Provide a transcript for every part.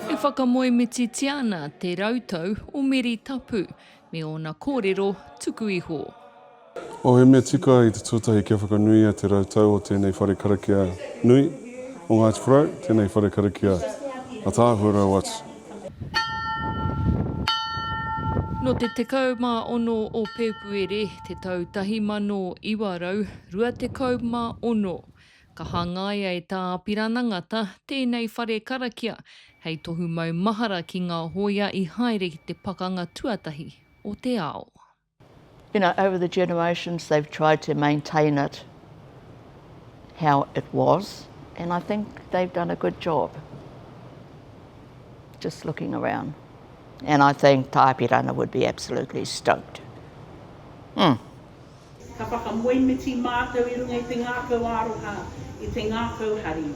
E whakamoemititia ana te rautau o Meri Tapu me ōna kōrero tuku iho. Ohemetika i te tuatahi kia whakanuia te rautau o tēnei whare karakia nui o Ngāti Porou, tēnei whare karakia ataahua rau atu. Nō te 16 o Pēpuere te tau 1900, 26. Ka hangaia e Tā Apirana Ngata tēnei whare karakia hei tohu maumahara ki ngā hōia i haere ki te Pakanga Tuatahi o te Ao. You know, over the generations they've tried to maintain it how it was and I think they've done a good job. Just looking around. And I think Tā Apirana would be absolutely stoked. Umm. Ka whakamoemiti mātou i runga i te ngākau aroha, i te ngākau hari.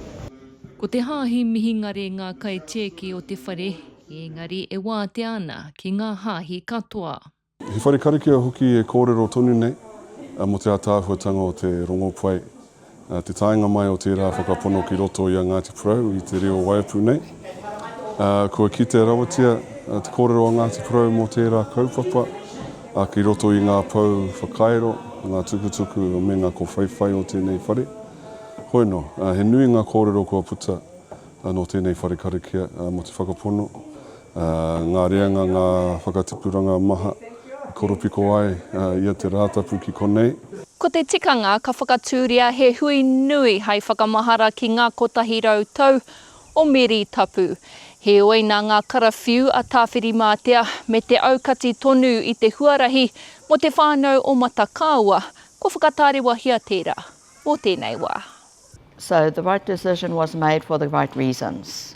Ko te Hāhi Mihingare ngā kaitieki o te whare, ēngari e wātea ana ki ngā Hāhi katoa. He whare karakia hoki e kōrero tonu nei mō te ātaahuatanga o te rongopai Nā te taenga mai o tērā whakapono ki roto i a Ngāti Porou i te reo Waiapu nei, kua kitea rawatia te kōrero a Ngāti Porou mō tērā kaupapa ki roto i ngā pou whakairo, ngā tukutuku me ngā kowhaiwhai o tēnei whare. Hoi nō, he nui ngā kōrero kua puta nō tēnei whare karakia mō te whakapono Ngā reanga, ngā whakatipuranga maha i koropiko ai ia te Rātapu ki konei. Ko te tikanga ka whakatūria he hui nui hai whakamahara ki ngā kotahi rau tau o Meri Tapu. Heoi nā ngā karawhiu a Tāwhirimātea me te aukati tonu i te huarahi mō te whānau o Matakāua kua whakatārewahia tērā mō tēnei wā. So the right decision was made for the right reasons.